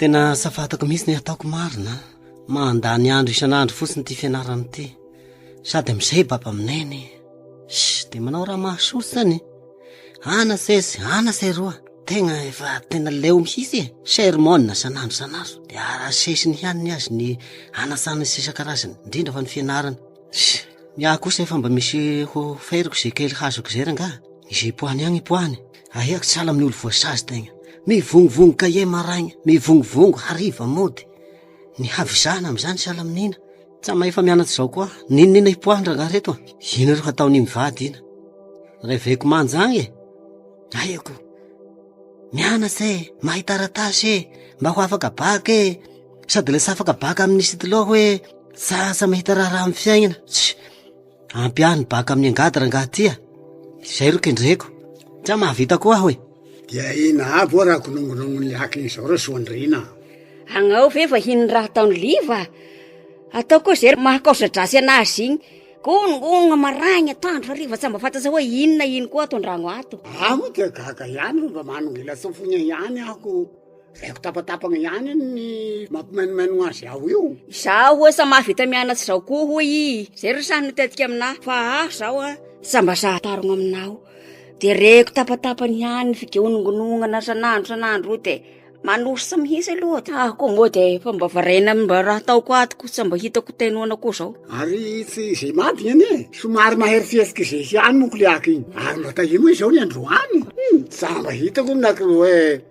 Tena safatako mihitsy ny ataoko marina Mandany andro isan'andro fotsiny ity fianarana ity Sady amin'izay baba minene Shh, dia manao raha mahasoa izany Ana sesy, ana seroa Tegna efa tena leo mihitsy e Sermona isan'andro isan'andro Dia arasesiny ihany ny azy ny anasana sy isan-karazany Indrindra fa ny fianarana Shh, ny ahy kosa efa mba misy ho feriko izay kely hazoko izay rangaha Izay poahany agny poahany Ahiako tsy hiala amin'ny olo voasazy tegna. Mivongovongo cahier maraigna, mivongovongo hariva mody. Ny havizana amin'izany tsy hiala amin'ina. Tsa mahefa mianatra izao koa. N'inon'inona hipoahan-dra nga reto a! Ino ro hataon'ny mivady ina? Reveko manja agny e! Ahiako. Mianatra e! Mahay taratasy e! Mba ho afaka bac e! Sady lasa afaka bac amin'ny stylo hoe, tsasa mahita raharaha amin'ny fiaignana. Tsia! Ampy ahy ny baka amin'ny angady rangaha tia, izay ro kendreko. Tsa mahavita koa aho e. Dia ina avy oa raha konongonongon'ny lakiny izao reo soandriana. Agnao ve vahiny ny raha ataon'i Liva? Atao koa izay mahakaosa-dratsy an'azy igny. Konongonogna maraigny, atoandro, hariva tsa mba fantatra hoe ino na ino koa ato an-dragno ato. Aho dia gaga ihany fa mba manongilatsofigna ihany aho ko. Reko tapatapagna ihany ny mampimainomainogna azy aho io. Izaho hoy sa mahavita mianatsa izao koa hoy i zay ry samy nitetika aminah fa aho zao a sa mba sahy tarogno aminao de reko tapatapany ihany figeonongonognana sanandro sanandro io de manosa mihitsy aloha de aho koa moa de efa mba variana amy mba raha ataoko ato ko sa mba hitako tainoana koa zao ary tsy ze madiny anie somary mahery fihetsika ze ihany monko le aky iny ary mba tahio moa izao ny androany sa mba hitako ny aky hoe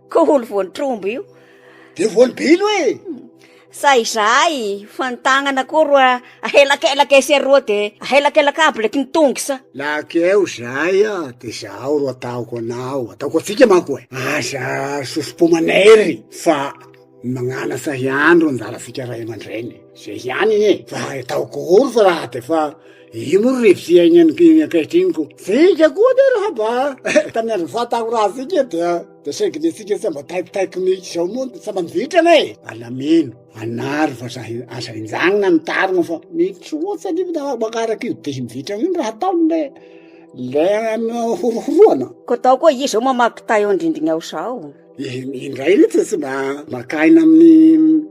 Ko holo voan'ny trombo io. Dia voan'ny bilo hoe. Sa izahay fa ny tagnana koa roa ahelakelaka etsy aroa de ahelakelaka aby leky ny tongo sa. Laky eo izahay a de zaho ro ataoko anao ataoko atsika manko e. Aza sosopomanay ry fa. Magnanatra hiandry ny zanatsika ray aman-dreny, zay ihany anie, fa ataoko ahoana fa raha de fa io moa ry fiainan'ny ankehitriny ko, tsika koa anie raha mba tamin'ny andron'ny fahatahorantsika io dia dia saingy ny antsika tsy mba taikotaiko mihitsy zao moa tsy mba mivitrana e, alamino, anary vazaha, aza enjahina ny tarina fa mitrosa anie fa raha mankaraka io dihy mivitrana io ny raha ataony le le horohoroana. Koa tao koa izy zao mamaky tay eo an-drindrina eo zao. Indray re tsy mba maka aina amin'ny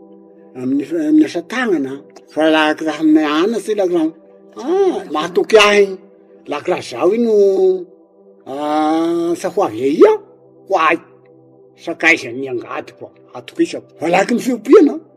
amin'ny amin'ny asa tagnana an, fa la kiraha amy anatse la kiraha ah mahatoky ahy, la kiraha zaho ino asa ho avy aia ho ahy, sakaizan'ny angadiko atokisako, malaky ny fiompiana an.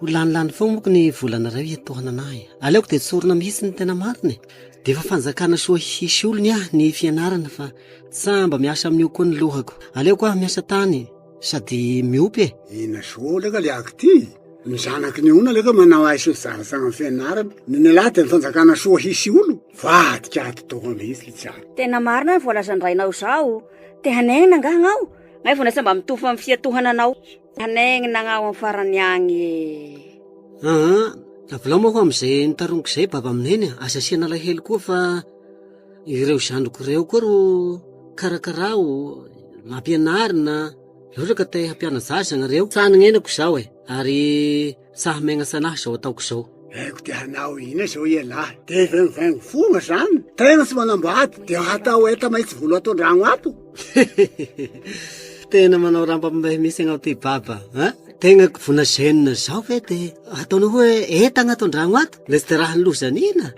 Ho lanilany foana moko ny volana iray hoe etoana anah e. Aleoko dia tsorina mihitsy ny tena marina e. Dia efa fanjakana soa hisy olony aho ny fianarana fa tsa mba miasa amin'io koa ny lohako. Aleoko aho miasa tany sady miompy e. Inona soa hono ka le aky ty? Ny zanaky ny ona le ka manao aiso ny tsaratsara ny fianarana. Ny nelah dia ny fanjakana soa hisy olo. Vadika ato tokoa mihitsy le tsy ahy. Tena marina ny voalazan'ny rainao izao. Te hanegnina angaha aho? Ngay vao nahy tsa mba mitovy amin'ny fiatohana anao. Hanaingina agnao amin'ny farany agny e. Aa, avelao moa ho amin'izay notaroniko izay Baba amin'i Neny a. Aza asiana alahelo koa fa ireo zandriko ireo koa ro karakaraho, ampianarina, loatra ka te hampiana-jaza ianareo. Tsaha ny nenako izao e, ary. Sa megnatsa anah zao ataoko zao. Haiko dia hanao ina zao ialahy? Dia vaingovaingo fona zany. Tegna tsy manambady dia hatao enta mahitsy volo ato andragno ato. Tena manao rambambay misy agnao ty baba a. Tegna vona zenona zao ve dia ataonao hoe entagna ato andragno ato? Lesy dia raha ny loza anina.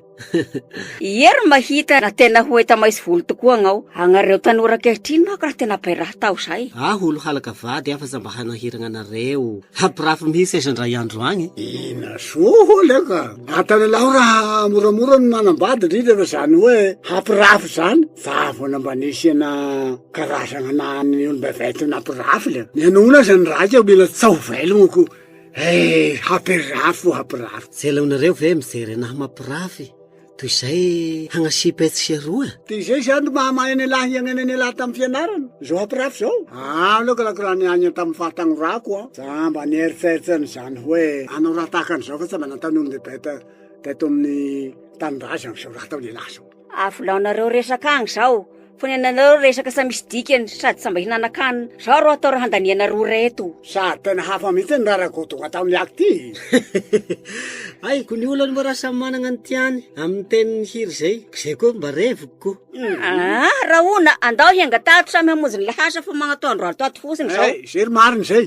Hery mahita na tena ho eta maisy volo tokoa agnao agnareo tanora ankehitriny manko raha tena bay raha atao zay. Aho olo halaka vady afa za mba hanahiragna anareo hampirafy mihitsy aza ndray andro agny. Ina soa holy ka! Atanalaho raha moramora ny manambady indrindra fa zany hoe hampirafy zany fa vona mba nisy ana karazagna na ny olom-bevay tena hampirafy le mianona aza ny raika mila tsaho velogno ko. Eh! Hampirafy o hampirafy. Tsy aleonareo ve mijery anahy mampirafy toy izay hagnasipa etsy sy eroa? Dia izay izany ry mahamahay an'ialahy hiainana an'ialahy tamin'ny fianarana, izao hampirafy izao. Aleoko aloha raha niaina tamin'ny fahatagnorako an! Jamba nieritreritra an'izany hoe hanao raha tahaka an'izao fa tsy mba nataon'ny olon-dehibe teto amin'ny tanindrazana izao raha ataon'ialahy izao. Avolaonareo resaka agny zao, fonenanareo resaka sa misy dikany sady sa mba hihinanan-kanina? Zao rô atao rô handaniana rora eto. Sady tena hafa mihitsy ny raharaha Godot tamin'ny aiko ty eh! Aiko ny olany moa raha samy manana ny tiany amin'ny tenin'ny hira izay, izay koa mba reviko ko. Aa! Rahona, andao hiainga tato samy hamonjy ny lahasa fa magnatoandro ato fotsiny zao. Izay ry marina izay.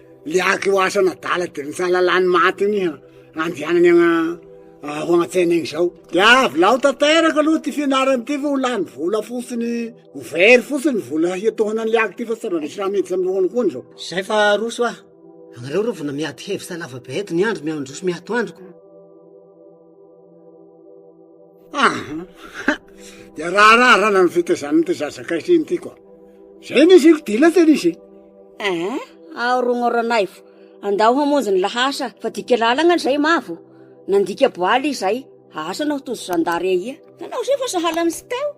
Le aky io asa an'adala de lasa lalany maty iny andianany agna ho agnatsaina igny zao de avolao tanteraka aloha ty fianarany ty fa ho lany vola fotsiny ho very fotsiny ny vola hiatohana anle aky ty fa tsy raha misy raha miditry amy lohany koa ny zao zay fa roso ah anareo reo vona miady hevitsa lava be eto ny andro miandroso miatoandro ko Ahh dia raharaha rana ny fitezan'ity zaza kaitriny ity koa. Zay ny isiko dila tena izy. Eh, ao rogno ranaivo, andao hamonjy ny lahasa fa dika lalagna ny zay mavo. Nandika boaly izay, asa anao tojo zandary ahia. Nanao izay fa sahala amin'i Siteo.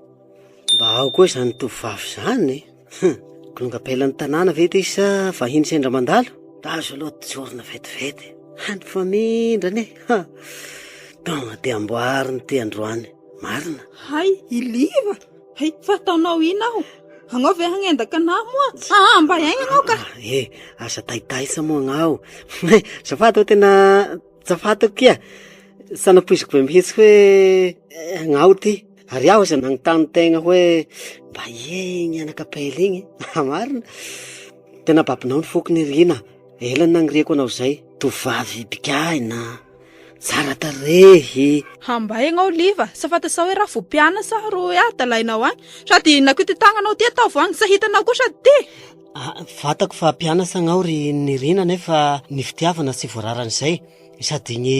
Mba ao koa izany tovovavy izany e. Hum! Kilonga pelan'ny tanàna ve ty sa vahiny sendra mandalo? Azo aloha tsorina vetivety. Any fa mindrana e! Ha! Tonga dia amboarina ity androany. Marina. Hay i Liva! Hay fa ataonao ina aho? Agnao ve hagnendaka anah moa? Ah, mba aigna agnao ka! Ah, eh, aza taitaitsa moa agnao. Eh, zafady hoe tena tsafatako kia. Sanapoiziko be mihitsy hoe eh, agnao ty. Ary aho izay nanontany tegna hoe mba ie igny anak'ampela igny? Haha marina, tena babonao ny foko nirina, ela ny naniriako anao izay, tovovavy bigahina, tsara tarehy. Hambaigna aho liva, sa fantatsao hoe raha vopiana sa ro hoe adalainao agny? Sady nakoy ty tagnanao ty ataovy agny, sa hitanao koa sady ty? Ah, fantako fa mpianasa agnao ry Nirina nefa ny fitiavana tsy voararan'izay, sady ny.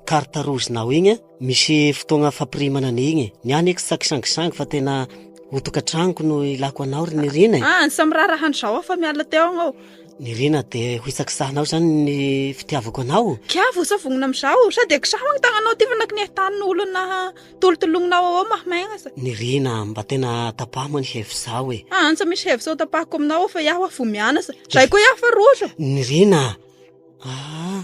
carte rouge nao igny a, misy fotoagna fampirimana an'igny e. Ny ahy nefy tsy akisangisangy fa tena ho tokantragnoko no ilako anao ry Nirina e. Ah, samy raharahan-dry zareo aho fa miala teo agny aho. Nirina, dia ho isakisahanao izany ny fitiavako anao? Kia vao savognina amin'izaho, sao dia kisaho ny tagnanao ty fa na kiniha tany no olona hatolotolognina ao ao mahamegna sa. Nirina, mba tena tapaho moa ny hevitrao e. Ah, antsa misy hevitra ho tapahako aminao ao fa iaho aho vao mianasa. Zay koa iaho fa roso. Nirina, ah.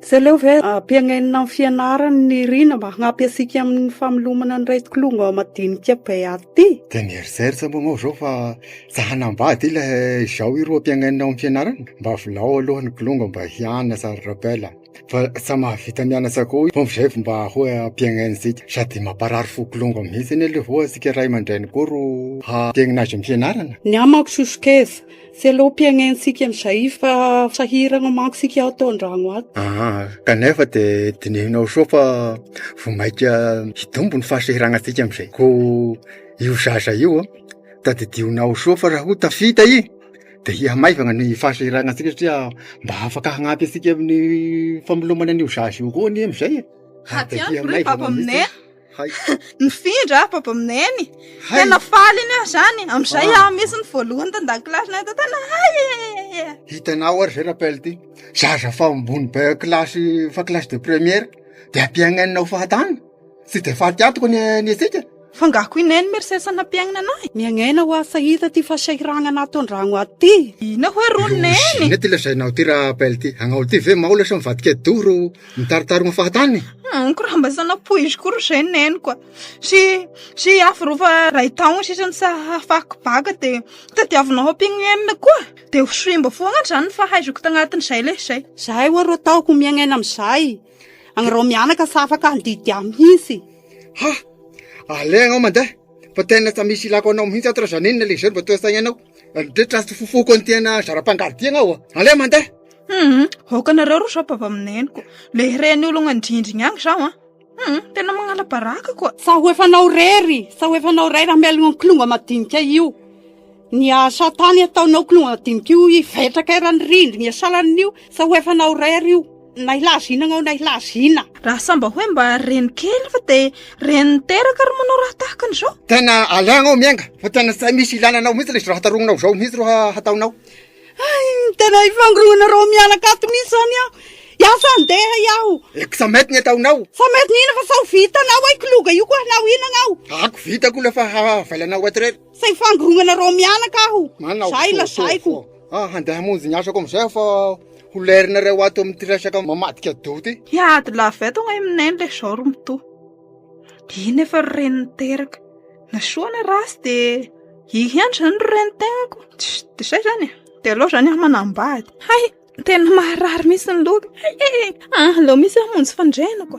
Tsy aleo ve ampiaingna amin'ny fianarany ny rina mba hagnampy antsika amin'ny famelomana ny raikiloha madinika be ato ty? Dia mieritreritra moa anao izao fa tsy hanambady ilay izao iroa ampiaingna amin'ny fianarany? Mba avelao aloha ny kilonga mba hianatra ry Raphaël a! Fa tsy mahavita mianatra koa i Paompy izay vao mba hoe ampiaingna antsika. Sady mamparary fo kilonga mihitsy anie aleo voa antsika ray aman-dreny koa ro hampiaingna azy amin'ny fianarana. Ny amako sosokevitra, Tsy aleo ampiahaintsika an'izay fa sahirana manko isika ato an-drano ato. Aa kanefa dia dinehinao soa fa vao mainka hitombo ny fahasahiranantsika amin'izay koa io zaza io an, tadidinao soa fa raha koa tafita i dia hihamaivana ny fahasahiranantsika satria mba afaka hanampy antsika amin'ny famelomana an'io zaza io koa anie amin'izay e! Hatsy andro re vava aminay a! Hay. Nifindra ah, baba aminay any. Hay. Tena faly iny ah zany. Amizay ah, ah misy ny voalohany tan-dakilasy na tao tena hay. Hitanao ary zay rappel ty. Zaza fa ambony be kilasy fa kilasy de première de ampiagnanina ho fahatany. Tsy de fahatiatoko ny ny antsika. Fa ngaho ko inay ny mersesa nampiagnana anahy. Miangaina ho asa hita ty fasahiragnana ato an-dragno aty. Ina hoe rononeny. Ina ty lazainao ty rappel ty. Agnao ty ve maola sa mivadika dory Mitaritaroana fahatany? Amiko raha mba sana poiziko koa izay ny neniko a. Sy sy aforova iray taona sisa ny sahafako baka dia tadiavinao ampingo enina koa. Dia ho simba foana izany ny fahaizako tagnatin'izay le izay. Zahay ho'a ro ataoko ho miaigna aina amin'izay. Agnareo mianaka tsy afaka handidy ahy mihitsy. Ha! Aleo ianao mandeha fa tena tsy misy ilako anao mihitsy ato raha izany enina le izay no mba toa saigna anao. Ny toetra tsy fofoko an'ity anà zara-pangardiagna ao a. Aleo mandeha. Hum, aoka nareo ry rapabamineniko, le reny ologna ndrindrigny agny zaho an. Hum, tena magnala baraka koa. Sa ho efa anao rery, sa ho efa anao rery hamelogna kilonga madinika io. Ny asa tany ataonao kilonga madinika io hivetraka eran'ny rindrigny asalan'io, sa ho efa anao rery io. Na hilaza ina agnao na hilaza ina. Raha sa mba hoe mba reny kely fa de reny niteraka ary manao raha tahaka an'izao. Tena alagna ao miainga fa tena tsy misy ilana anao mihitsy le raha tarogninao zao mihitsy ro hataonao. Hay, tena hifangoronana reo mianaka ato mihintsy zany aho. Hiasa handeha iaho. Eh, ko sa mety ny ataonao? Sa mety ny inona fa sao vitanao hoe kiloga io ko hanao inona anao? Ako vitako le fa havailanao ato rery. Sa hifangoronana reo mianaka aho. Manao Zay fo, lazaiko. fo, fo. Ah, handeha hamonjy ny asako amizay aho fa ho lerinareo ato amin'ity resaka mamadika doty. Hiady lava eto gna i Mineny le zao ry Mitoha. dia iny efa ry reny niteraka na soa na ratsy dia iny ihany izany ry renin-tenako dia izay izany e dia aleo izany aho manambady hay tena maharary mihitsy ny loka hay e aleo mihitsy aho monjy fandrenako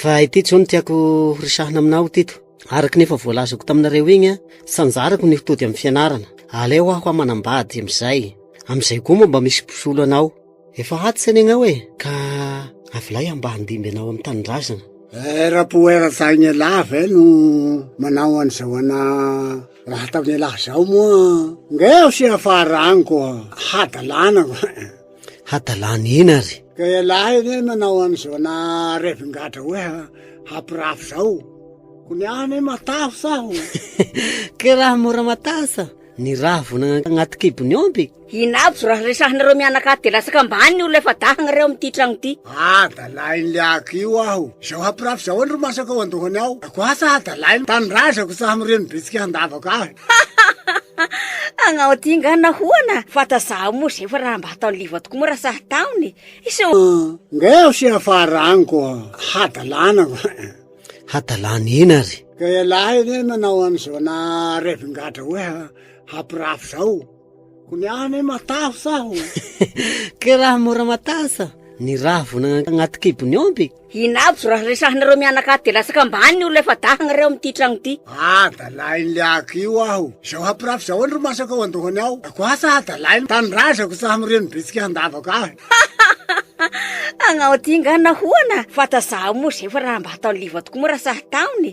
Fa ity tso no tiako horesahina aminao tito. Araka ny efa voalazako taminareo igny, sanjarako ny hotody amin'ny fianarana. Aleo aho manambady amin'izay. Amin'izay koa moa mba misy mpisolo anao. Efa aty zany agnao e, ka avelay aho mba handimby anao amin'ny tanindrazana. Eh, rapoera tagn'ialahy ve no manao an'izao ana raha ataon'ialahy zao moa? Ngeh asia faharango hadalana. hadalany iny ary. Ka ialahy anie ny manao an'izao na revin-gadra hoe ha- hampirafy zao. Ko ny ahy anie matavy aho. Ke raha mora matasa ny ravina agnaty kibon'ny omby. Inabso raha resahinareo mianakavy de latsaka ambany ny olona efa dahagna reo amty tragno ty. Adalain'le aky io aho. Zao hampirafy zao any ro masaka ao andohany ao. Ako asa adalainy, tanindrazako tsaha mireno bitsika handavaka ahy. Agnao ty nga nahoana? Fata zaho moa zay fa raha mba ataon'i Liva tokoa moa raha sahy taony. Iso. Nga ho sy afaraniko hadalana. Hadalana eny ary. Ka ialahy anie manao an'izao na revin-gadra hoe hampirafy zao. Ko ny ahy anie matavy aho. Ke raha mora matasa ny ravina agnaty kibon'ny omby. Inabso raha resahinareo mianakavy dia latsaka ambany ny olona efa dahagnareo amin'ity tragno ity. Adalain'le aky io aho. Izao hampirafy izao anie ro masaka ao an-dohany ao. Ko asa adalain'ny tanindrazako tsy hamoreno bitsika handavaka ahy. Agnao ty nga nahoana? Fa tazaho moa zay fa raha mba ataon'le iva tokoa moa raha sahy taony?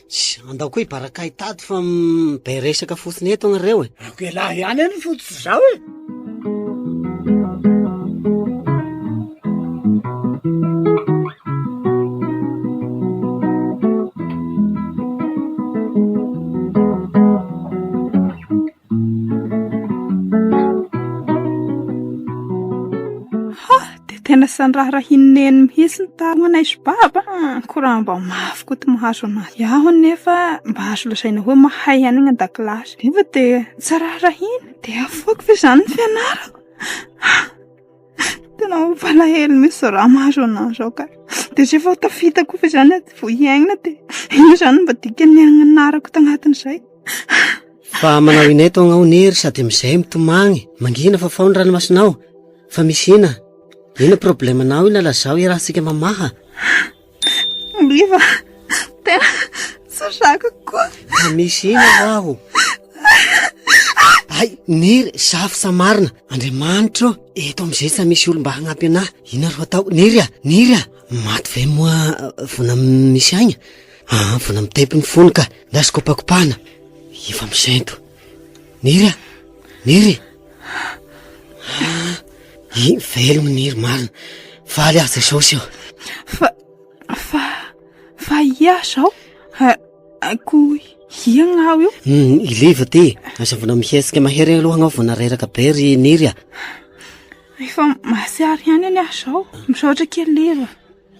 Tsia, andao koa hibaraka ahy tady fa be resaka fotsiny eto ianareo e. Ako ialahy ihany any fotsy izao e. Hah! Dia tena tsy niraharahian'i Neny mihitsy ny tary manaiso baba an! Koa raha mba mafy koa ity mahazo an'azy aho nefa mba azo lazaina hoe mahay ihany ny any an-dakilasy. Nefa dia tsy raharahiana. Dia afoiko ve izany ny fianarako? Tena mampalahelo mihintsy raha mahazo an'izany izao ka. Dia izay vao tafita koa ve izany aho vao hiaina dia inona izany no mba dikan'ny hananarako tanatin'izay. Fa manao inay tao agnao nery sady amin'izay mitomagny, mangina fa fao ny ranomasinao, fa misy ina, ina problème-nao ina lazaho hiarahantsika mamaha. Oliva, tena tsy zaka koa. Misy ina ho'aho. Hay, Niry, safo sa marina? Andriamanitra ô, eto amin'izay tsy misy olom-ba hagnampy anahy. Inona ro hatao? Niry a, Niry a, maty ve moa vona misy aigna? Aa, vona mitempy ny fony ka, ndao sy kopakopahana. Efa misento. Niry a, Niry. Iny velona ny hery marina. Faly aza izao seo. Fa, fa, fa ia zao? Akory hiagna aho io. Hmm, Iliva ty, aza vona mihetsika mahery aloha anao vona reraka be ry Niry a. Efa masiary ihany anie aho izao. Misaotra kely Liva.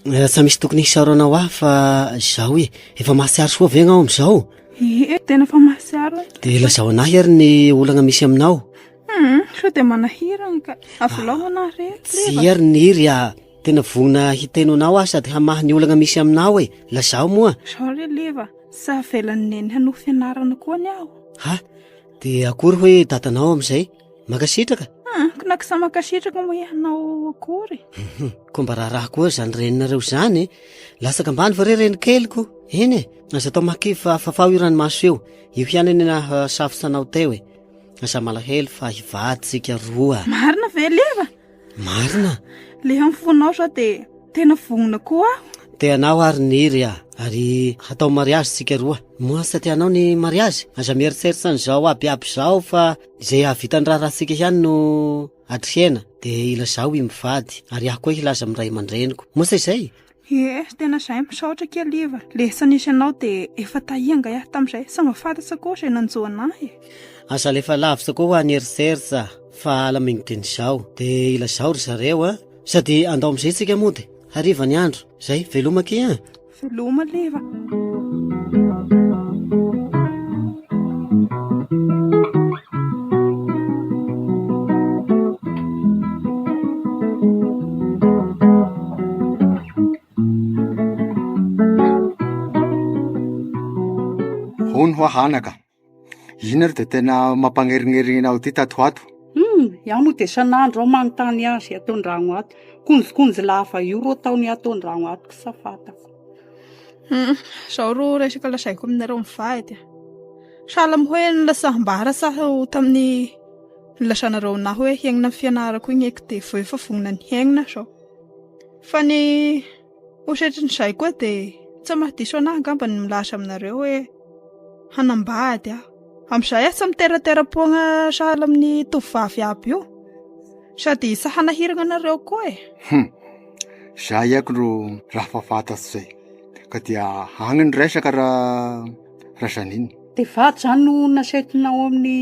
Eh, tsa misy tokony hisaorana ho ahy fa zaho e efa mahatsiaro soa ve gnao am'izao ee tena fa mahatsiaro e dia lazao anahy ary ny olagna misy aminao hmm, sao dia manahirana ka avolao ah, anahy re tsy ary ny iry a tena vonona hiteno anao aho sady hamaha ny olagna misy aminao e lazao moa zao re leva sa velan'ny neny hanoa fianarana koa ny aho ha dia akory hoe dadanao amin'izay mankasitraka ah, ko na kisa mankasitraka moa ianao akory mhm. ko mba raharaha koa zany reninareo zany latsaka ambany fa re reny keliko eny e aza atao makivy fa fafaho io rany maso eo io ihany eny na ah, safotsanao teo e aza malahelo fa hivaditsika roa marina ve leva marina le amfonao sa de tena vonona koa aho te anao ary niry a ary hatao mariazy tsika roa moa tsy tatianao ny mariazy aza mieritseritsany zao abiaby zao fa Izay hahavitan'ny raharahantsika ihany no hatrehina, dia ilazao i mivady, ary aho koa hilaza amin'ny ray aman-dreniko. Moa sa izay? Ie, tena izay, misaotra kely iva. Lessa nisy anao dia efa taia angahy aho tamin'izay, sao mba fantatsa koa izay nanjo anah e. Aza alefa lavitra koa hoa ny eritseritra fa ala mingitry ny zao. Dia ilazao ry zareo an! Sady andao amin'izay isika mody, hariva ny andro. Izay, veloma akia an! Veloma alefa. Hono hoa hanaka, Iny ary dia tena mampanerinerina aho ity tato ho ato. Hum, izaho moa dia isan'andro aho manontany azy ato an-drano ato. Konjokonjo lava io ro ataony ato an-drano ato sa fantako. Hum, izao ro resaka lazaiko aminareo mivady a! Sahala amin'ny hoe nilasam-bary asa aho tamin'ny nilazanareo anah hoe hiaingna ny fianarako igny eky dia vao efa vonona ny hiaingna izao. Fa ny. Ohatran'izay koa dia tsy maha diso anah angamba ny milaza aminareo hoe hanambady aho. Amin'izay aho tsy miteratera-poagna sahala amin'ny tovovavy iaby io. Sady tsy hanahiragna anareo koa e. Hum, zah ihako ro raha fa fantatro zay. Ka dia agny ny resaka ra Razaniny. Dia vady zany no nasaiko Naomi ny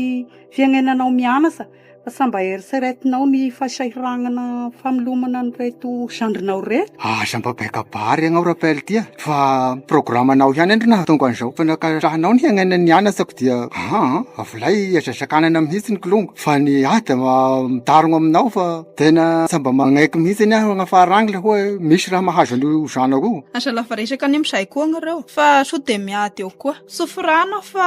fiainananao mianasa. Fa sa mba eritreretinao ny fahasahiragnana famelomana an'ireto zandrinao ireto? Aza mba baikabary ianao Raphaël a! Fa programanao ihany anie no nahatonga an'izao fa nankasitrahanao ny hiainana nianasako dia aa avolay aza sakanana mihitsy ny kilongo fa ny ahy dia mitarogna aminao fa tena tsy mba magnaiky mihitsy anie aho hagnafara agny ilay hoe misy raha mahazo an'io zanako io. Aza lava resaka anie amin'izay koa agnareo fa sao dia miady eo koa. Sofirano aho fa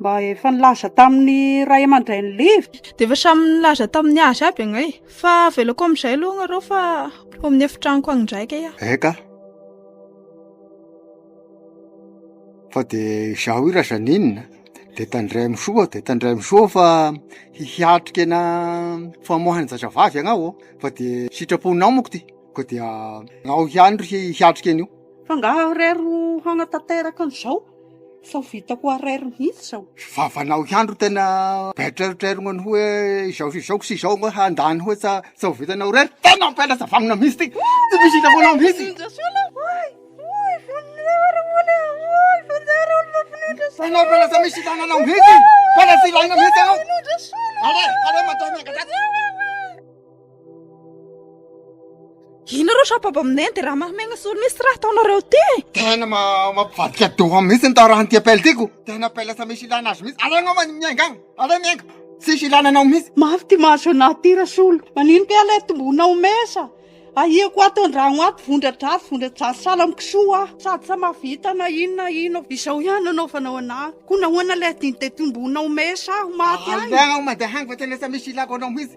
Mba efa nilaza tamin'ny ray aman-dRain'i Liv. Dia efa samy nilaza tamin'ny azy aby angay. Fa avelako amin'izay aloha ianareo fa ho amin'ny efitranoko any indray kay aho. Eka. Fa dia izaho io Razaninina dia tandray amin'ny soa dia tandray amin'ny soa fa hiatrika ena famoahana zazavavy ianao fa dia sitraponao manko ty. Koa dia ao ihany ry hiatrika an'io. Fa nga arery ho hanatanteraka an'izao fa ho vita ho arery mihitsy izao. Vavanao ihany ro tena baitreritrerigno ny hoe izao sy izao sy izao ngo handany hoe tsa tsa ho vitanao rery. Tena mampianatra vagnona mihitsy ty. Tsy misy hita foana mihitsy. Tena tena tsy misy tananao mihitsy. Tena tsy ilaina mihitsy ianao. Ale, ale matoa miangadratsy. Inareo shabab aminay dia raha mahamenga solo misy raha ataonareo ty e. Tena mampivadika doha mihitsy ny taorahan'ny ty appel tiko. Tena appel sa misy ilana azy mihitsy. Aleo anao miainga agny. Aleo miainga. Tsisy ilana anao mihitsy. Mafy ty mahazo anahy ty Rasolo. Manino ty aleo tombona ho mesa. Ahiako ato andragno ato vondradratsy vondradratsy sahala amin'ny kisoa aho. Sady sa mahavita na ino na ino. Izao ihany no anaovanao anahy. Koa nahoana ilay adin'i dia tombona ho mesa aho maty agny. Aleo mandeha agny fa tena sa misy ilako anao mihitsy.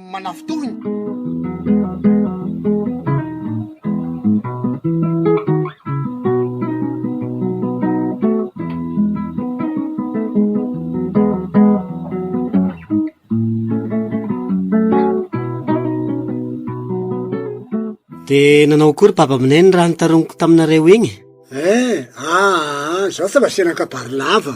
Dia nanao akory baba minay ny raha nitaroniko taminareo iny? Eh, aa, ah, ah, zaho fa lasa eran-kabary lava.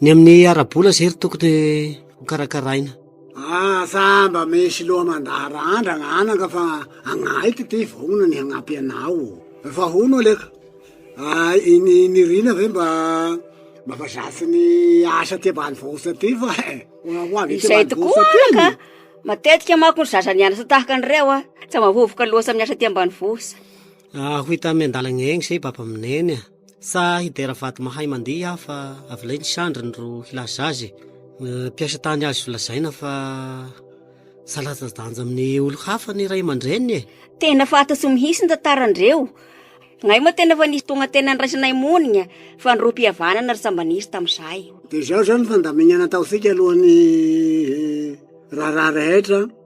Ny amin'ny ara-bola zay ry tokony ho karakaraina. Ah sa mba misy loha mandaharandra ananka fa agnahiko ty vognona ny hagnampy anao o. Efa hono ale ka. Ah iny Niryna ve mba mba fa zatra ny asa aty ambanivohitra aty fa eh, ho avy aty Izay tokoa ambanivohitra aty anaka, anie. matetika manko ny zaza nianatra tahaka an'ireo an, tsy mahavovoka loatra amin'ny asa aty ambanivohitra. Ah ho hita amy an-dalagna egny zay babamineny a. Sa hidera vady mahay mandihy aho fa avelay ny sandriny ro hilaza azy e. Mpiasa tany azo lazaina fa tsy latsa-danja amin'ny olo-hafa ny ray aman-dreniny e. Tena faty tsy mihitsy ny tantaran-dreo. Ngay moa tena efa nisy tonga tena niraisanay monigna fa nirohim-pihavanana ry sambany izy tamin'izay. Dia izao izao ny fandaminana ataontsika alohan'ny raharaha rehetra.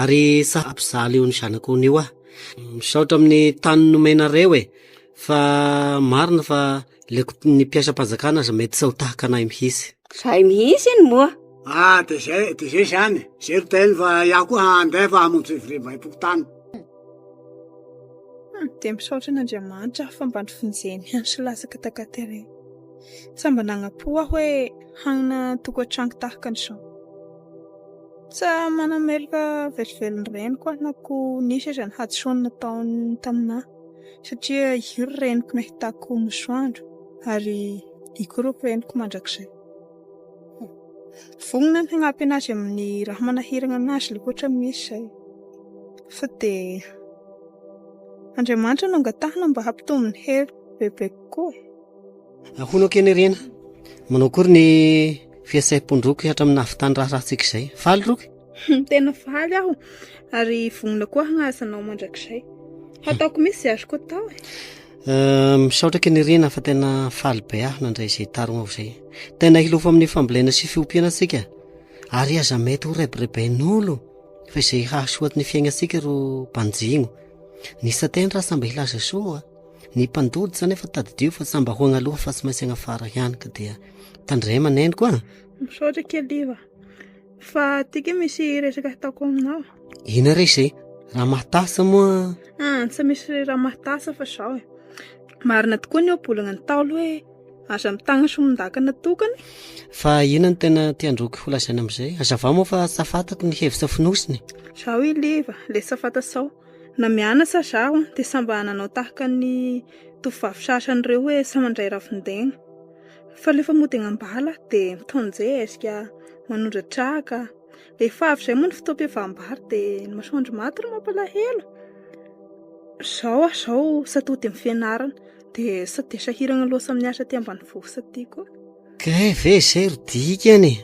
Ary sa ampizaly io ny zanako io niwa. Misaotra amin'ny tany nomenareo e! Fa marina fa le ny mpiasam-panjakana aza mety tsy ho tahaka anay mihitsy. Zay mihitsy iny moa. Ah de zay de zay zany e! Zay ro teny fa iah koa handeha fa hamonjy fivoriambaem-pokontany. Hum, dia misaotra an'Andriamanitra fa mba nivonjeny andro sy latsaka takaty re. Tsa mba nagnapo aho hoe hagnana tokantranko tahaka an'izao. Tsa manameloka velively reniko aho na koa nisy aza ny hadisoany nataony tamin'ahy satria io ry reniko nahitako masoandro ary io koa ry reniko mandrakizay. Vonona ny hagnampy anazy amin'ny raha manahiragna anazy le ohatra misy zay. Fa dia Andriamanitra no angatahana mba hampitombo ny hery bebe kokoa e. Hono akia ny rena, manao akory ny fihetsehampon'droky hatramin'ny nahavitan'ny raharahantsika izay. Faly roky? Tena faly aho ary vonona koa hagnasa anao mandrakizay. Hataoko misy izay azoko atao e. Eh, misaotra akia ny rena fa tena faly be aho nandray izay tarognao izay. Tena hilofo amin'ny fambolena sy fiompiana antsika ary aza mety ho rebireben'olo fa izay hahasoa ny fiainantsika ro banjino. Ny satendra aza mba hilaza soa. Ny mpandody zany efa tadidio fa samy mba ho agny aloha fa tsy maintsy agny afara ihany ka dia tandrema neniko a. Misaotra Keliva. Fa tiako hoe misy resaka hataoko aminao. Ina re izay? Raha mahatasa moa? Ah, tsy misy raha mahatasa fa izao e. Marina tokoa ny ohabolana Ntaolo hoe aza mitagna sy mindakana tokana e. Fa ina no tena tiandroky holazaina amin'izay? Hazavao moa fa tsy tafataky ny hevitra fonosiny e. Izao i Liva, le tsy tafata sao. Na mianatsa aza aho dia samy mba nanao tahaka ny tovovavy sasany ireo hoe samy mandray ravin-daigna. Fa rehefa mody agnambala dia mitaon-jezika, manondra traka. Rehefa avy izay moa ny fotoam-pihavam-bary dia ny masoandro maty no mampalahelo. Izao aho izao sady tody amin'ny fianarana dia sady sahiragna loatra amin'ny asa aty ambanivohitra aty koa. Kay ve izay ro dikany e?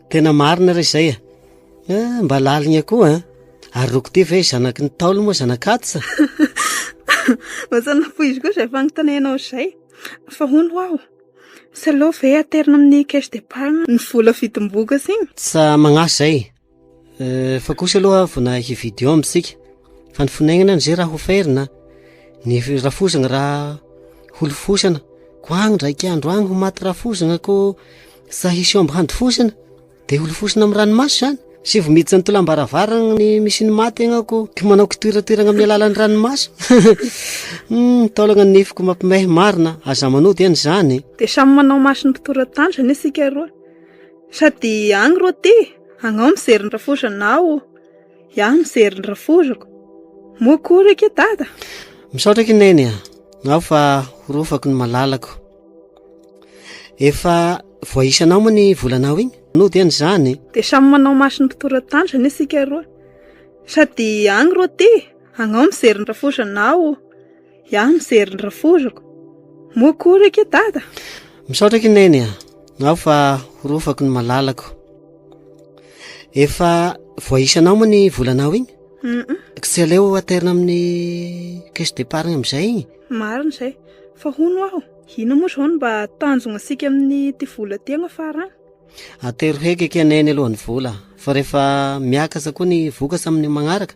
Tena marina re izay e. Ah, mba laligna koa an. Ah. Ary rokode ve zanaky ny taolo moa zanakatsa? Vasa napoizy koa izay fanontanianao izay. Fa hono ho aho, tsy aleo ve aterina amin'ny caisse d'épargne ny vola vidim-bohoka siny? Tsa magnasa izay. Fa kosa aloha vona hividy omby isika fa ny fonenana izay raha hoferina ny rafozana raha holofosana ko agny ndraiky andro agny ho maty rafozana ko sa hisy omby handofosana dia holofosana amin'ny ranomaso izany sy vao miditra ny tolam-baravarana ny misy ny maty agny aho ko ko manao kitoeratoerana amin'ny alalan'ny ranomaso hum taolana ny nifiko mampimehy marina aza manody anie izany e. Dia samy manao maso ny mpitoran-tantrany isika roa. Sady agny ro ty, agnao mijery ny rafozanao, iaho mijery ny rafozako. Moa koa ry ke dada? Misaotra ki neny a, ngao fa horofako ny malalako. Efa voaisanao moa ny volanao igny? Nody any zany. Dia samy manao maso ny mpitoran-tanjona isika roa. Sady agny ro ty, agnao mijery ny rafozanao, Iah mijery ny raforoko. Moa koa re ke dada? Misaotra ki neny a. Nao fa horofako ny malalako. Efa voaisanao moa ny volanao iny? Ka tsy aleo aterina amin'ny caisse départ amin'izay iny? Marina izay. Fa hono aho, inona moa izao no mba tanjona antsika amin'ity vola ity agnafara any? Atero heky akia neny aloha ny vola fa rehefa miakatra koa ny vokatra amin'ny magnaraka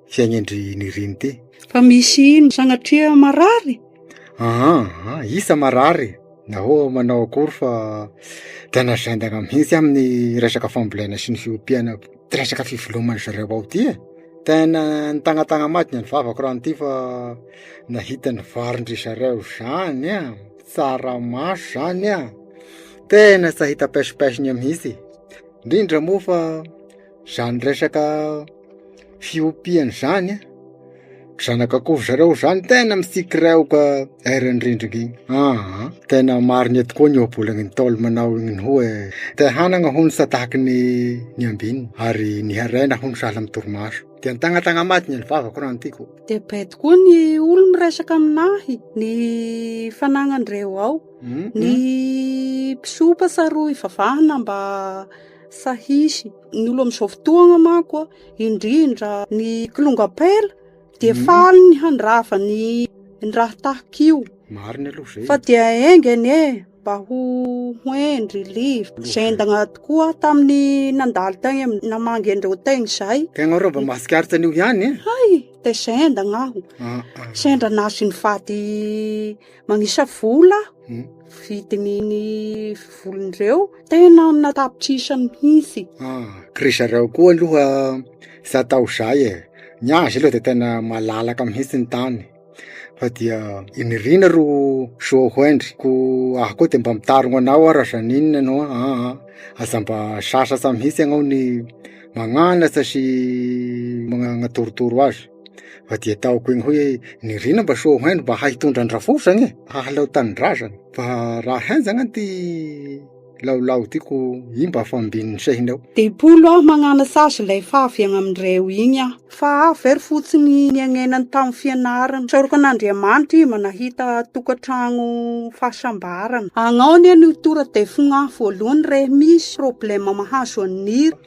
fiainendry nirinte fa misy ino sanatria marary aa ah, isa marary nahoa manao akory fa tena zendana mihitsy amin'ny resaka fambolena sy ny fiompiana resaka fivelomany zareo ao ty e tena nitagnatagna madina ny vavako raha an'ity fa nahita ny varindry zareo zany an tsaramaso zany an tena tsy hahita paisopaisony mihitsy indrindra moa fa zany resaka fiompian'izany zanak'akoho ry zareo zany tena mitsikiraoka eran'ny rindrina iny aa tena marina tokoa ny ohabolana ntaolo manao iny hoe te hanana hono sa tahaka ny ny ambiny ary ny harena hono sahala amin'ny torimaso de nitagnatagna maty ny vavako raha ny tiako de bay tokoa ny olo miresaka aminahy ny fananan'ireo ao ny mpisompa saroy vavahana mba sahisy Ny olo amin'izao fotoagna manko a, indrindra ny kilonga ampela dia faly ny handrava ny raha tahaka io, marina aloha zay, fa dia enga anie mba ho hendry live, zendagna tokoa tamin'ny nandalo tagny am- namangy an'ireo tegny zay, Tegna reo mba mahatsikaritra an'io ihany e! hay! dia zendagna aho, sendra nahazo ny vady. Magnisa vola aho, vidin'iny volony ireo, tena amina tapitrisany mihitsy. Ah, ry zareo koa aloha za tao zay e, ny azy aloha de tena malalaka mihitsy ny tany fa dia iny rina ro soa ho hendry, ko aho koa de mba mitarogno anao aho raha zaninona ianao an, aa aza mba sasatsa mihitsy ianao ny magnanatsa sy magnatorotoro azy. fa dia ataoko eny hoe ny rina mba soa haino mba hahitondra ny rafozany e hahaleo tanindrazany fa raha henjagna ty laolao tiako i mba fambin'ny sehina eo telopolo aho magnana sazy lay favy agny amindreo igny aho fa aho ve ry fotsiny niagnenany tamy fianarana sarokan'andriamanitra i mba nahita tokantragno fahasambarana agnao anie ny tora de fogna voalohany re misy problema mahazo an'i nira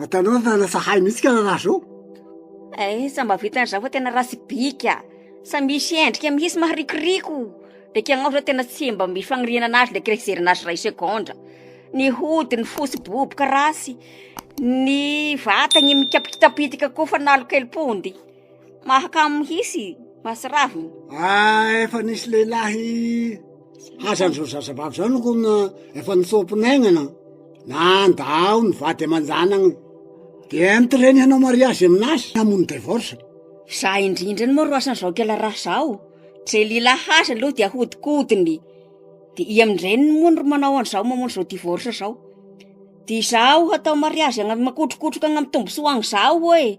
Ataonao fa lasa hay mihitsy ka raha zao. Eh, sa mba vitan'ny zaho fa tena ratsy bika. Sa misy endrika mihitsy maharikoriko. Dia kay angamba zao tena tsy mba misy fagnirinana azy ilay kay fizerana azy iray segondra. Ny hodiny fotsy boboka ratsy, ny vatany mikapitapitaka koa fa nalokely pondy. mahakamo mihitsy mahatsiravina ah efa nisy lehilahy haza an'izao zazavavy zao noko na efa nitsoa-pinaignana nanda ao ny vady aman-janagny de ento reny hanao mariazy amin'azy hamono devorsa za indrindra any moa ro asan'izao kela raha zaho ze lehilahy haza aloha de ahodikodiny de i amin-dreniny moa no manao an'izao mamono izao divorsa zao de izaho hatao mariazy agny makotrokotroka agny amin'ny tombosoa agny zaho eo e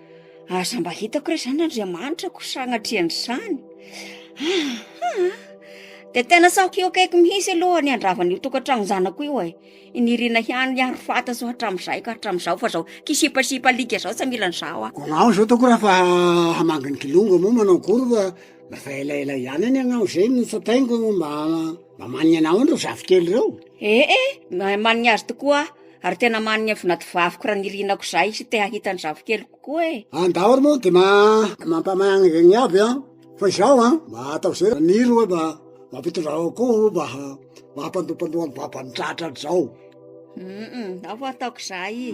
Aza mba hitako re zany Andriamanitra ko sagnatria an'izany ahaa de tena sahiko eo akaiky mihitsy aloha ny handravan'io tokantrano zanako io e inirina ihany ny arofata zao hatramin'izay ka hatramin'izao fa zao kisipasipa alika zao tsy mila an'izao aho Agnao zao ataoko raha fa hamangy ny kilonga moa manao akory fa lasa elaela ihany anie agnao zay no tsapaingo mba mba manigny anao any reo zafikely reo ee maha manigny azy tokoa aho Ary tena manigny fona ty vaviko raha nirianako zay sy te hahita ny zafikeliko koa e! Any daholo moa de mampamaigny zegny aby an, fa izaho an mba atao ze maniry hoe mba mampitondra akoho mba hampandopandoa ny babany tratra hatrizao. Hum hum, ao vao ataoko zay.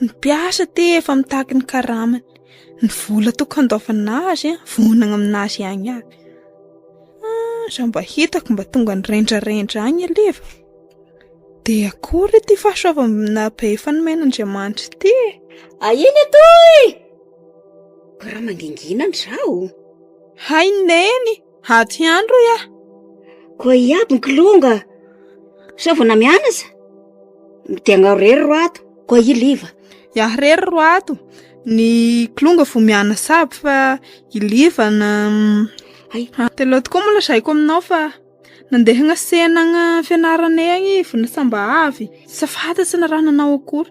Ny mpiasa te efa mitaky ny karamany, ny vola tokony handoavana azy an, vonona amin'azy ihany avy, ah, za mba hitako mba tonga nirendrarendra any anie va, de akory ity fahasoavana be efa nomen'Andriamanitra ity e, ahiana etoy e! Ko raha mangingina ndry zaho o! Hay Neny! Aty ihany rohy ah. Koa iaby ny kilonga. Sao vao namianasa? Dia agnao rery ro ato. Koa i liva. Iaho rery ro ato. Ny kilonga vao mianasa aby fa i liva na Ay. Ah, dia leo tokoa moa lazaiko aminao fa nandeha hagnasehana agny fianaranay agny izy na sambà avy. Tsy fantatra na raha nanao akory.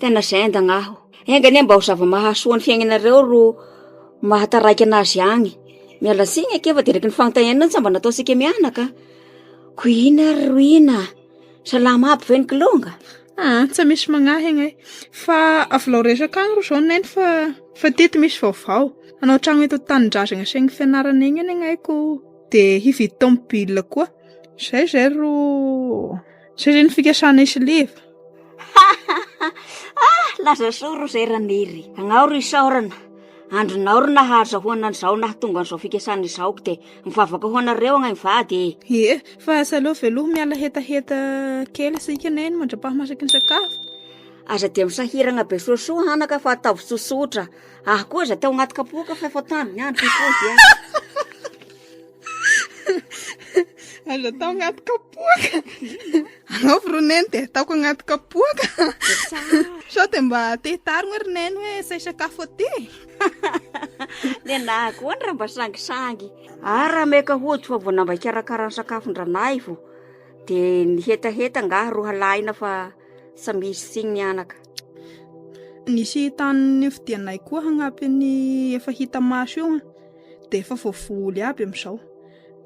Tena zendagna aho. Enga anie mba ho zava-mahasoa ny fiainanareo ro mahataraika anazy agny. Miala tsiny ake fa deraky ny fagnontaniana io tsy mba nataontsika mianaka. Ko ina ary ro ina? Salama aby ve ny kilonga? Ah, tsy misy magnahy agnay. Fa avelao resaka agny ro zao neny fa fa teto misy vaovao. Hanao trano eto an-tanindrazagna sy eny fianarana eny ny agnay ko de hividy tomobil koa. Zay zay ro. Zay zay ny fikasana isleva. Ah, laza soa ro zay Raniry. Agnao ro isaorana. Andrinao ro nahazahoana an'izao nahatonga an'izao fikasana izao ko dia mivavaka ho anareo agnay mivady e. Ie, fa asa aleo veloha miala hetaheta kely isika neny mandra-pahamasaky ny sakafo. Aza dia misahiragna be soasoa hanaka fa ataovy tsotsotra. Aho koa aza teo agnaty kapoaka fa efa tany ny andro koa dia. Aza atao agnaty kapoaka. Anaovy ro neny dia ataoko agnaty kapoaka. Sao dia mba te hitarigna ry neny hoe izay sakafo aty. Dia nahakoany raha mba sangisangy. Ary raha meka hody fa vao namba hikarakara ny sakafon-dranahy vao dia ny hetaheta angaha ro halahina fa tsy misy tsiny ny anaka. Nisy tany nifidianay koa hagnampy ny efa hita maso io. dia efa voavoly aby amin'izao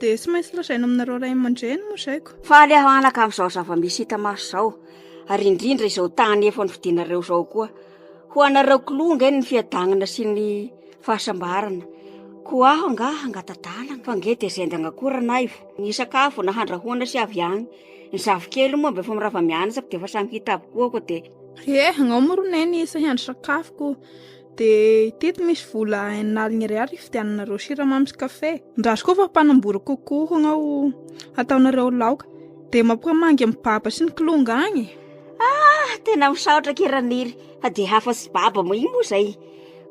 dia tsy maintsy lazaina aminareo ray aman-dreny moa izay ko faly aho anaka amin'izao zava-misy hita maso izao ary indrindra izao tany efa nofidinareo izao koa ho anareo kilonga eny ny fiadanana sy ny fahasambarana ko aho nga hangatadalana fa nge dia zendagna koa ranaivo ny sakafo na handrahoana sy avy agny ny zafikely moa mba efa mirava mianatra dia efa samy hita avokoa ko dia eh agnao moa ro neny isa hiandry sakafo ko Dia teto misy vola enina aligny ariary hividiananareo siramamy sy kafe. Ndrazoko fa mpanambory kokoa hono ao hataonareo laoka. Dia mampamangy amin'ny baba sy ny kilonga agny. Ah, tena misaotra akia Raniry fa dia hafa sy baba moa iny moa izay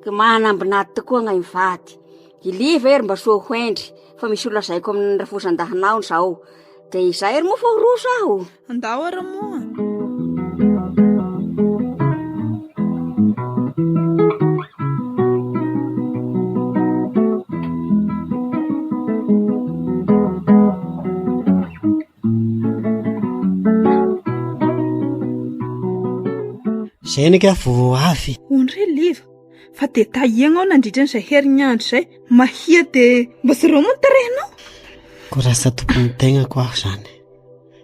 ka manambin'ady tokoa angahy mivady. I Liva ery mba soa hoendry fa misy ho lazaiko amin'ny rafozan-dahinao izao. Dia izay ary moa fa ho roso aho. Ndao ary moa! Zay ny ka vao avy. Hono re Liva, fa dia tahiagnao nandritra an'izay herinandro izay, mahia dia mba zoro moa ny tarehinao. Koa rasa tompon'ny tegnako aho izany.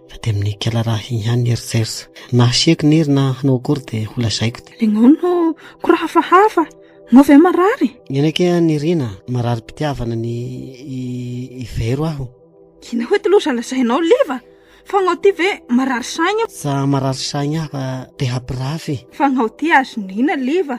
fa dia amin'ny kela raha iny ihany ny eritreritra. Na hasiako ny hery na hanao akory dia ho lazaiko dia. Nagnano kora hafahafa, nao ve marary? Eny ake an i Rina, mararim-pitiavana ny i Vero aho. Gina, hoe ty loza lazainao liva, fa gnao ty ve marary saigna? Tsa marary saigna aho fa te hampirafy. Fa gnao ty azon'ina liva?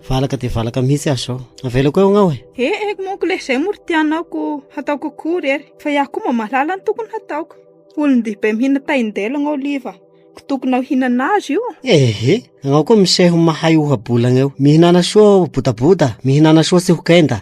Valaka dia valaka mihitsy aho izao. Avelako eo agnao e. Eh, eh, monko le izay moa ry tianao ko hataoko akory ery. Fa iaho koa mba mahalala ny tokony hataoko. Olon-dehibe mihina taindela agnao liva. Ko tokonao hinana azy io. Eh, eh, agnao koa miseho mahay ohabolagna eo. Mihinana soa bodaboda, mihinana soa tsy ho kenda.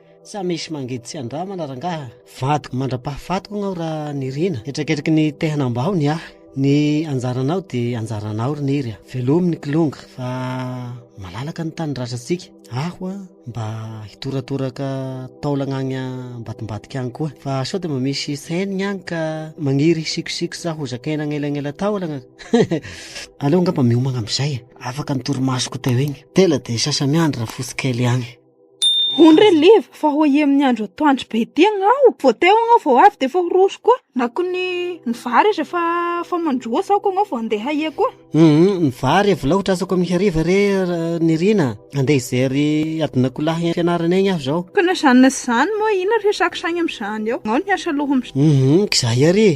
Sa misy mangidy tsy andramana rangaha? Vadiko mandra-pahafatiko agnao ra Nirina Hetraketraky ny te hanambao ny ahy Ny anjaranao de anjaranao ry Niry a Velomy ny kilonga fa malalaka ny tany ratratsika Aho a mba hitoratoraka taolagna agny ambadimbadika agny koa Fa sao de mba misy saignigny agny ka magniry hisikosikosa sa hozakaina agnelagnela taolagna Aleo angamba miomagna amizay e Afaka ny torimasoko teo igny Tela de sasa miandry rafosy kely agny Hono re leva fa ho aia amin'ny andro atoandro be ity agnao, vao teo agnao vao avy dia efa ho roso koa, na koa ny ny vary aza efa efa mandroa sao koa ianao vao handeha aia koa. Humm, ny vary avy laotra asa koa mihariva re Nirina a! Handeha hijery adin'akoholahy any am-pianarana egny aho izao. Ka na izany na izany moa inona resaka saigny amin'izany eo, ianao no hiasa aloha amin'izany. Humm, k'izahay ary e!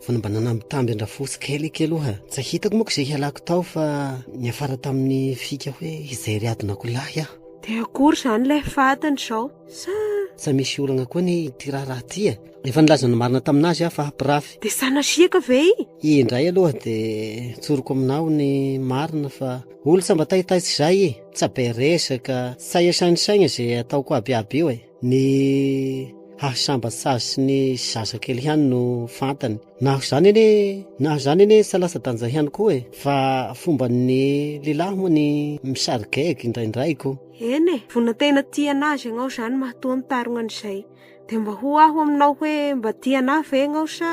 Fa ny mba nanambitamby an-dRafotsy kely kely oa, tsy hitako moa ko izay hialako tao fa niafara tamin'ny fika hoe izay ry adinako lahy aho. Dia akory izany ilay fatin-dry izao sa? Sa misy olagna koa anie ity raharaha ity e? Efa nilaza ny marina tamin'azy aho fa hampirafy. Dia sanasiaka ve i? I indray aloha dia tsoriko aminao ny marina fa olon-tsambataitay tsy izay i, tsaberesaka, saesainsaigna izay ataoko aby aby io e. ny hahasambatsazy sy ny zazakely ihany no fantany naho izany anie naho izany anie tsy latsa-danja ihany koa e fa fomban'ny lehilahy moa ny misarigaigy indraindray ko eny e vona tena tia an'azy ianao izany mahatoa mitarogna an'izay dia mba ho aho aminao hoe mba tia anah ve ianao sa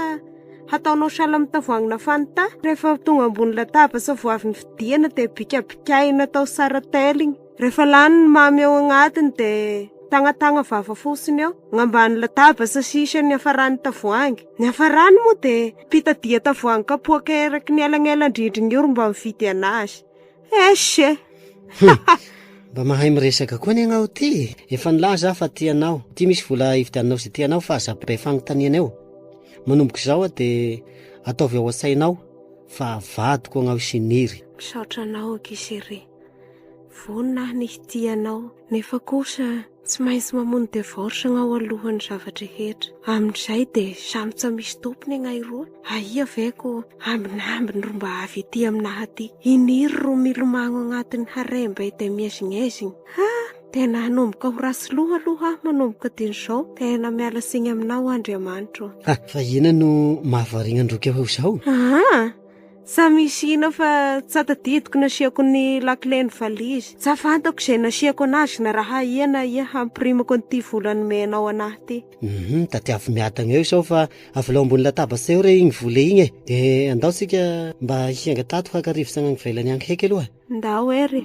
hataonao sahala amin'ny tavoahangy nafany ta rehefa tonga ambony latabatra vao avy novidiana dia bikabikaina atao sarateligny Rehefa lany ny mamy ao agnatiny dia tagnatagna vava fotsiny eo, gn'ambany latabatra sisa ny hafaran'ny tavoahangy. Ny hafarany moa dia mpitadiha tavoahangy kapoaka eraky ny elanelan-drindrina io ry mba mividy anazy. Eish eh! Mba mahay miresaka koa anie ianao ty e! Efa nilaza aho fa tia anao, ity misy vola hividiananao izay tianao fa aza be fanontaniana eo. Manomboka izao aho dia ataovy ao an-tsainao fa vadiko agnao i Siniry. Misaotra anao ankizy chérie. Vonona aho ny hitia anao, nefa kosa tsy maintsy mamono divorce agnao alohan'ny zava-drehetra. Amin'izay dia samy tsa misy tompony agnay roa, ahia ve ko ambinambiny ro mba avy ety aminah aty. Iniry ro milomagno agnatin'ny harem be dia miezignezigny. Ha! Tena hanomboka ho ratsy loha aloha aho manomboka dian'izao. Tena miala tsiny aminao Andriamanitro. Ha! Fa inona no mahavariagna an-droky ahy ho izao? Aa! Sa misy hino fa tsa tadidiko nasiako ny lakile ny valizy. Tsa fantako izay nasiako anazy na raha aia na aia hampirimako an'ity vola nomenao anahy ity. Hum tadiavo miadagna eo sao fa avelao ambony latabatra eo re igny vola igny e! de andao tsika mba hiainga tato haka rivotsagna any ivelany agny heky aloha e! Ndao er e.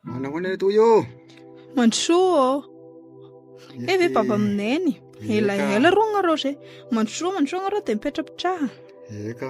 Manahoana toy ô? Mandrosoa ô. Eh ve baba mineny. Elaela roa nareo zay. Mandrosoa mandrosoa nareo dia mipetrapetraha. Eka.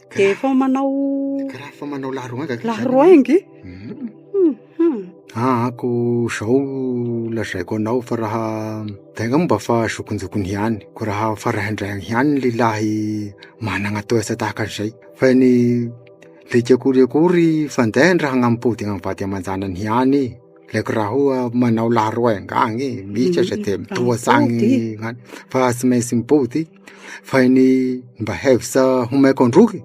Dia efa manao Karaha efa manao laharoainga kay zany ianao. laharoaingy? Aa ko zao lazaiko anao fa raha tegna moa mba fa zokinjokiny ihany ko raha faraindrainy ihany ny lehilahy managna toetra tahaka an'izay fa ny le tsy akory akory fandehan draha agnamim-pody amy vady aman-janany ihany e, le ko raha hoa manao laharoainga agne, misy aza dia mitoa hatrany fa tsy maintsy mipody Fay ny mba hevitsa homaiko an-drohy,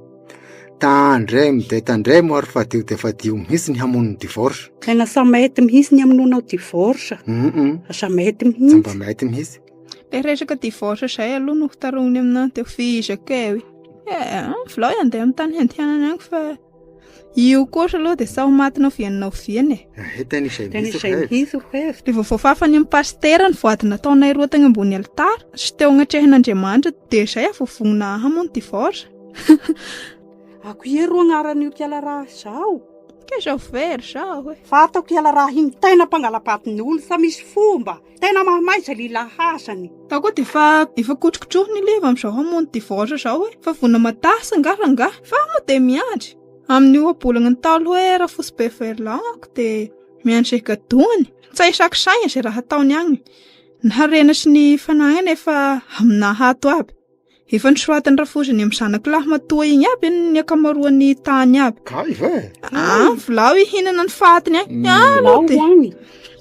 tandre mde tandre moa ary fadio dia fadio mihintsy ny hamono ny divorce. Tena sa mety mihintsy ny hamonoanao divorce? Sa mety mihintsy? Sa mba mety mihintsy? Ilay resaka divorce izay aloha no hotarihina aminao dia ho feheziko kay hoe, eh, avelao handeha amin'ny tany handehanany any fa. Io kosa aloha dia sao maty noviany noviany e. Ah, eh, tena izay mihitsy izay mihitsy hevitra. Dia vao voafafany amin'ny pasitera ny voady nataonay roa tagny ambony alitara sy teo agnatrehan'Andriamanitra dia izay avovogna hamono divorce. Ako ie ro agnaran'io kiala raha izao. Ke zao very zao e. Fa atako kiala raha hino tena mpangalapatiny olo fa misy fomba. Tena mahamay zay lila hazany. Za koa dia efa efa kotrokotrohina ilay avy amin'izao hamono divorce izao e. Fa vonona matahasa angaha rangahy? Fa moa dia miandry. Amin'ny ohabolana ny ntaolo hoe Rafotsy Beverland ako dia miandry izay gadoany. Tsy ahisako saina izay raha ataony agny. Ny harena sy ny fananana efa aminah ato aby. Efa nosoratan'i Rafozy ny amin'ny zanako lahy matoa igny aby ny ankamaroan'ny tany aby. Kay ve? Ah, volao hihinana ny fatiny agny. Mm. Ah, lo de.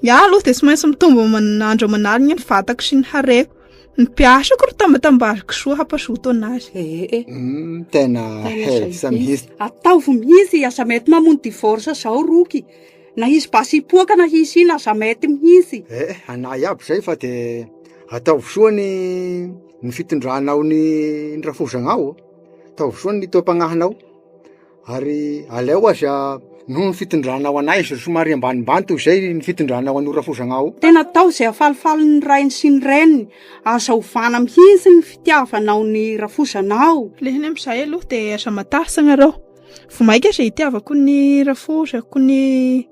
Ya lo de tsy maintsy mitombo andro aman'alina ny vatako sy ny hareko. Ny mpiasako ro tambatambaziko soa hampazoto anazy. Eh, eh, eh. Mm, tena hevisa mihitsy. Ataovy mihitsy aza mety mamono divorce zao roky. Na izy basy hipoaka na hisy ina aza mety mihitsy. Eh, eh, anay aby zay fa de ataovy soa ny ny fitondranao ny ny rafozagnahao ataovy soa ny taom-pagnahinao ary aleo aza noho ny fitondranao anay zao somary ambanimbany toy zay ny fitondranao an'io rafozagnahao io. Tena atao izay hafalifaly ny rainy sy ny reniny, aza ovana mihitsy ny fitiavanao ny rafozanao. Lehiny amin'i izahay aloha dia aza matahotra ianareo, vao mainka aza hitiavako ny rafozako ny.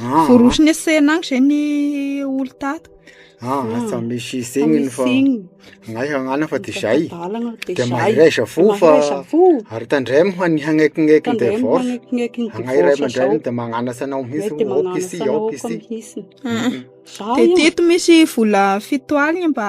Ah. Forosy ny sena agny zay ny olo tato. Ah, ah. asa misy zegny ny fa anay hagnana fa de zay de mahereza fo fa ary tandremo fa ny hagnaikignaiky ny devoce agnay ray aman-dreny de magnanasa anao mihitsy aoka isi aoka isi teto misy vola fito aligny mba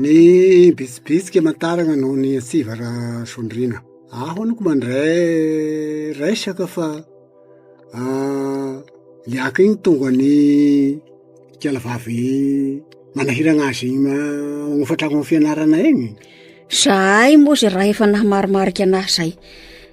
Ny bitsibitsika aman-tarana noho ny antsiva raha sondriana. Aho aloha ko mandray resaka fa i Aka iny tonga ny ikala vavy manahirana azy iny manofa trano fianarana iny. Zahay moa zay raha efa nahamarimarika anahy zay.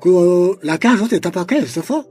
Koa lakay zao de tapa-kevitra fa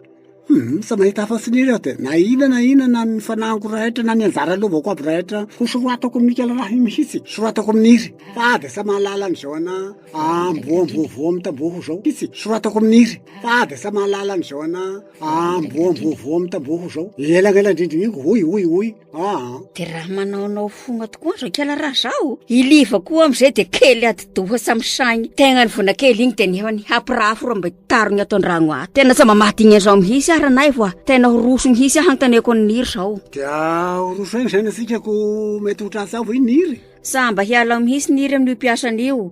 hum tsy mahita afa-tsy ny de na inona na inona na ny fanahiko rehetra na ny anjara lovako aby rehetra ho soratako amin'i Michael Raha iny mihitsy, soratako amin'ny hira fa de tsy mahalala an'izao ana amboa amboa voa mitamboho zao mihitsy, soratako amin'ny hira fa de tsy mahalala an'izao ana. Amboamboavoa amin'ny tamboho izao. Elagnela indrindra io, hoy, hoy, hoy, aa. De raha manaonao fogna tokoa ny zankela raha zaho, i Liva koa am'zay de kely ati-doha sa misaigny tegna ny vonakely igny de nefany hapirafo raha mba tarigny ato an-dragno ato. Tena tsy mba mahadiny an'zao mihitsy ary anay fa tena ho roso mihitsy aho hanontaniako an'i Niry zao. De horoso aigny zany antsika ko mety ho tratsa ho i Niry? Sa mba hialao mihitsy Niry amin'io mpiasany io?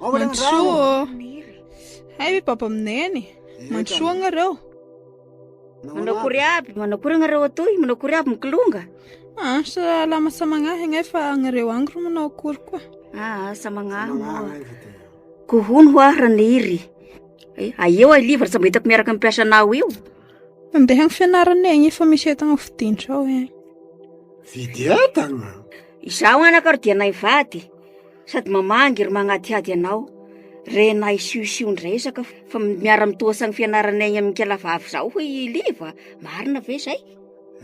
Mandrosoa ô. Hay ve papa aminay any? Mandrosoa agnareo. Manao kory aby, manao kory agnareo atoy, manao kory aby mikilonga. Ah, salama samagnahy agnay fa agnareo agny ro manao akory koa. Ah, samagnahy moa. Kohony ho ahy raniry. Eh, aeo ay livre tsy mba hitako miaraka amin'ny mpiasanao io. Andeha agny fianarana egny fa misy entagna fidindrao egny. Fidy entagna? Izaho anaka ro dia naivady. Sady mamangy ry magnadihady anao re na isiosiondresaka fa miara mitohasany fianarana egny amin'ny kala vavy zao hoy i liva marina ve zay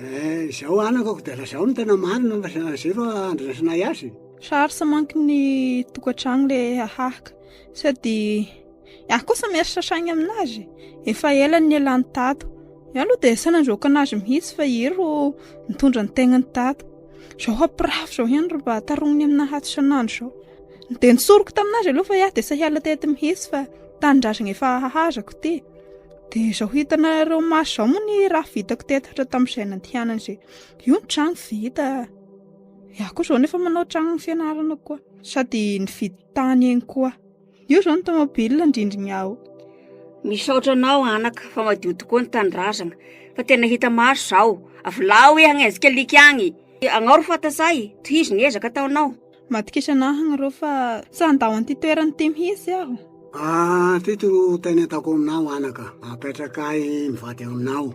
eh, izao anakako dia lazao ny tena marina fa za- zero andrasanay azy Charles manko ny tokantrano le hahaka sady Iaho kosa miaritra saigny aminazy e. Efa ela ny elany tato. Iaho aloha dia saina androaka anazy mihitsy fa iry ro nitondra ny tegnany tato. Izao hampirafy izao ihany ro mba tarogniny amina hato isan'andro izao. Dia nitsoriko taminazy aloha fa iaho dia sahiala teto mihitsy fa tanindrazagna efa hahazako ty. Dia izao hitanareo maso izao moa ny raha vitako teto hatra tamin'izay nandehanany izay. Io ny trano vita. Iaho koa izao nefa manao trano fianarana koa. Sady nividy tany eny koa. Io izao ny tomobile ny rindrigny ao. Misaotra anao anaka fa madio tokoa ny tanindrazagna fa tena hita maso zao. Avolao e agny azika liky agny. Agnaoro fatasa e, tohizo ny ezaka ataonao. Matokisa anah agny rô fa sa handao an'ity toerana ity mihitsy aho? Aa fito no teny ataoko aminao anaka, apetraka ahy mivady aminao.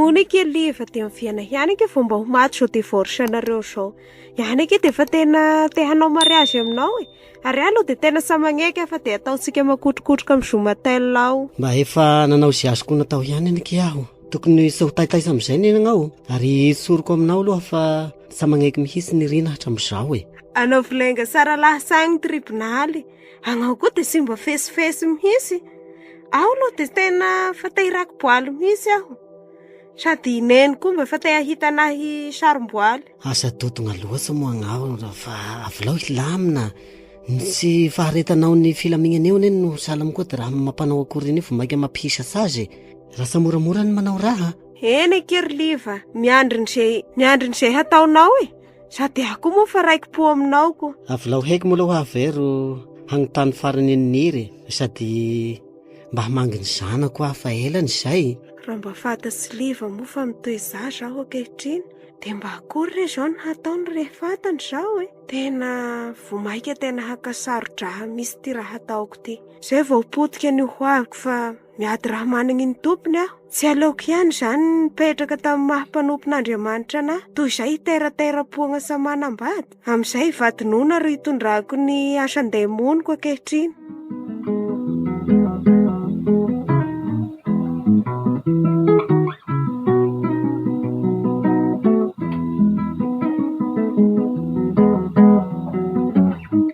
Hono eke aloha efa dia miviana ihany eke vao mba ho maty izao divorce anareo izao. Ihany eke dia efa tena te hanao mariazy aminao e. Ary ahy aloha dia tena tsy maneky afa dia ataontsika makotrokotroka amin'ny Zumatel ao. Mba efa nanao izay azoko natao ihany any eke aho. Tokony tsy ho taitaitra amin'izay ny anao ary tsoriko aminao aloha fa tsy maneky mihitsy ny Rina hatramin'izao e. Anaovy lainga sara lahy sahy ny tribonaly. Anao koa dia simba fesifesy mihitsy. Aho aloha dia tena efa te hirakimboaly mihitsy aho. Sady i Neny koa mba efa te hahita anah hisarom-boaly. Asa dodona loatra moa angaho fa avelao hilamina. Ny tsy faharetanao ny filaminana eo anie no sahala amin'ikoa dia raha mampanao akory an'io vao mainka mampihisatra azy e. Lasa moramora ny manao raha. Eny an-keriliva, miandry an'izay, miandry an'izay hataonao e. Sady ahy koa moa fa raiki-po aminao ko. Avolao heky moa aloha aho ve ro hanontany farany an'i Niry e. Sady mba hamangy ny zanako aho fa ela ny izay. Raha mba fantatr'i Sliva moa fa mitohy zaza aho ankehitriny dia mba akory re izao no hataony rehefa fantany izao e. Tena vao maika tena hankasaro-draha misy ity raha hataoko ity. Izay vao potika ny hoaviko fa Miady raha managny ny tompony aho. Tsy aleoko ihany izany ny nipetraka tamin'ny maha mpanompon'Andriamanitra anahy. Toy izay hiteratera-poagna sa manambady. Amin'izay hivadi-noana ary hitondrako ny asan-demoniko ankehitriny.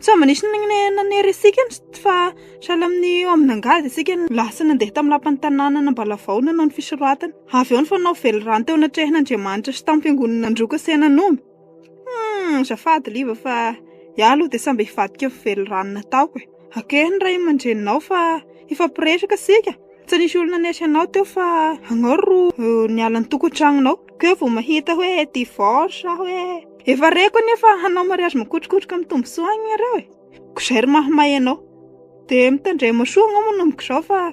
Sao mba nisy nanery antsika fa sahala amin'ny eo amin'angady isika no lasa nandeha tamin'ny lapan'ny tanànana Ambalavao nanao ny fisoratana. Avy eo ny fanao velirano teo anatrehan'Andriamanitra sy tamin'ny fiangonana Androka sy Henan'omby. Humm, azafady liva fa iah aloha dia samby hivadika ny velirano nataoko e. Akeo ny ray aman-dreninao fa hifampiresaka isika. Tsy nisy olona nanery anao teo fa ianao ro niala ny tokantranonao. Koa ianao vao mahita hoe divorce sa hoe. Efa reko anefa hanao mariazy makotrokotroka amin'ny tombosoa any ianareo e. Ko zay ry mahamay anao. Dia mitandrema soa anao manomboka izao fa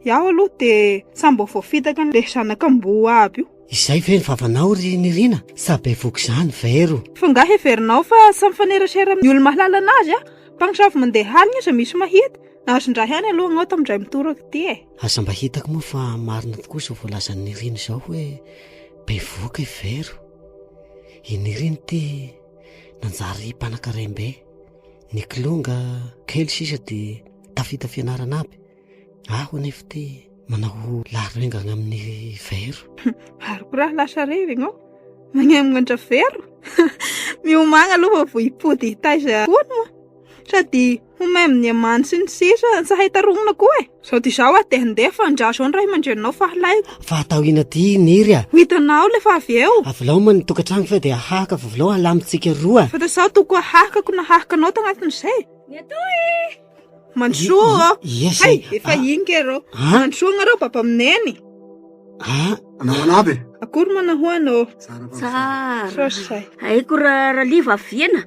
iaho aloha dia samy mbola voafitaka an'ilay zanak'amboa aby io. Izay ve ny vavanao ry Niryna sa bevoka izany vero? Fa nga heverinao fa samy mifanerasera amin'ny olo-mahalala anazy a? Mpamosavy mandeha alina aza misy mahita. Azon-draha ihany aloha anao tamin-dray mitoraka ity e. Aza mba hitako moa fa marina tokoa izao voalazan'i Niryna izao hoe bevoka i vero. I Nirina ity nanjary mpanankarem-be. Ny kilonga kely sisa dia tafita fianarana aby. Aho anefa ity manao laharengana amin'ny vero. Ary koa raha lasa revy ianao, magnanatra vero. Miomagna aloha vao hipody hitaiza hono. Sady Ho may amin'ny amany sy ny sisa, tsy hay tarohina koa e. Zao dia zao aho dia handeha fa ndra zao ny ray aman-dreninao fahalaiko. Fa atao ina ty niry a. Ho hitanao le fa avy eo. Avelao man ny tokantrano fa dia hahaka vovolao halamintsika roa. Fa dia zao toko hahakako na hahakanao tagnatin'izay. Ny atoa e. Mandrosoa ô. Ia zay. Hay, efa iny kay rô. Mandrosoa nareo baba am neny. Ah. Manao an'aby e. Akory ma nahoana ô. Tsara. Sao zay. Aiko ra raliva aviana.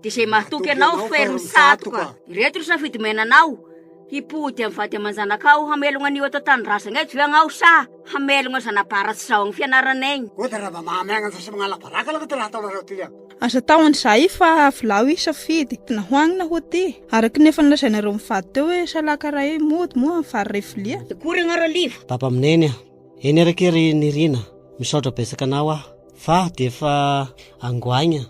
Dia izay mahatoky anao ho ferme satoka. Ireto ny safidy omenanao, himpody amin'ny vady aman-janakao hamelogna an'io ato an-tanindrazagna eto ve agnao sa hamelogna zana-bara tsy zahoan'ny fianarana egny? Ô dia rava mahamenatra sy magnala baraka aloha ty raha ataonareo ty an! Aza atao an'izay fa avelao hisafidy na ho agny na ho aty. Araka ny efa nolazainareo mivady teo hoe salaka iray eo mody moa amin'ny vary iray vilia. Akory agnao Raliva? Baba Mineny a! Eny ary akia ry Nirina, misaotra betsaka anao aho fa dia efa angoaigna.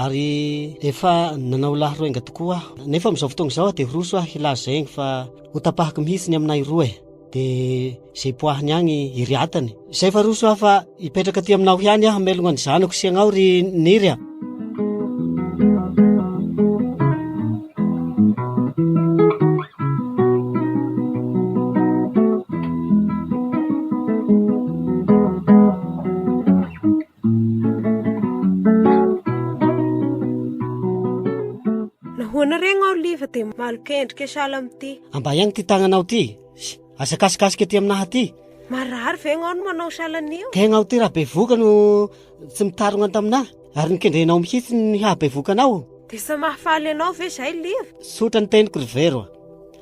ary efa nanao lahy roenga tokoa aho nefa amin'izao fotoana izao dia roso aho hilaza izay egny fa ho tapahako mihitsy ny aminay roa e dia izay poahiny agny iriatany izay fa roso aho fa hipetraka aty aminao ihany aho melogna ny zanako sy agnao ry niry a Nahoana re ngao liva dia malika endrika sahala amin'ity? Ambahiagny ity tagnanao ity. Aza kasikasika ety aminaha ity. Marary ve ngao no manao sahala an'io? Tegna ity raha bevoka no tsy mitarogna taminaha ary nikendrenao mihitsy ny hahabevoka anao. Dia tsy mahafaly anao ve izay liva? Tsotra ny teniko ry vero.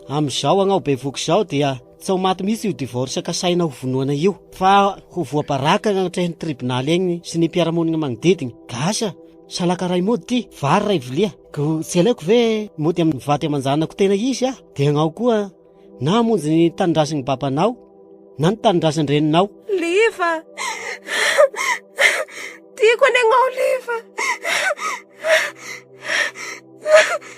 Amin'izao agnao bevoka izao dia Tsy ho maty mihitsy io divorce kasaina ho vonoana io fa ho voabaraka any anatrehan'ny tribonaly any sy ny mpiara-monina magnodidina. Gasy a! Salaka ray mody ty, vary ray vilia. Ko tsy alaiko ve mody amin'ny vady aman-janako tena izy aho dia agnao koa na hamonjy ny tanindrazan'ny babanao na ny tanindrazan-dreninao. Liva! Tiako any agn'Olive.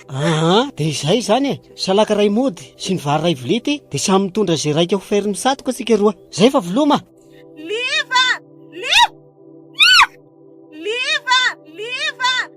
Aha, dia izay izany e. Salaka iray mody sy ny vary iray vilia ity, dia samy mitondra izay raika ho ferin'ny satoka isika roa. Izay fa viloma. Liva! Liva! Liva! Liva!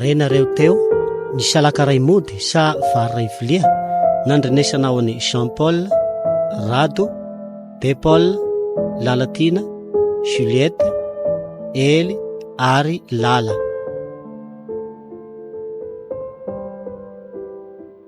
Renareo teo, ny salaka iray mody sa vary iray vilia, nandrenesana ao an'i Jean Paul, Rado, Be Paul, Lalatiana, Juliette, Ely ary Lala.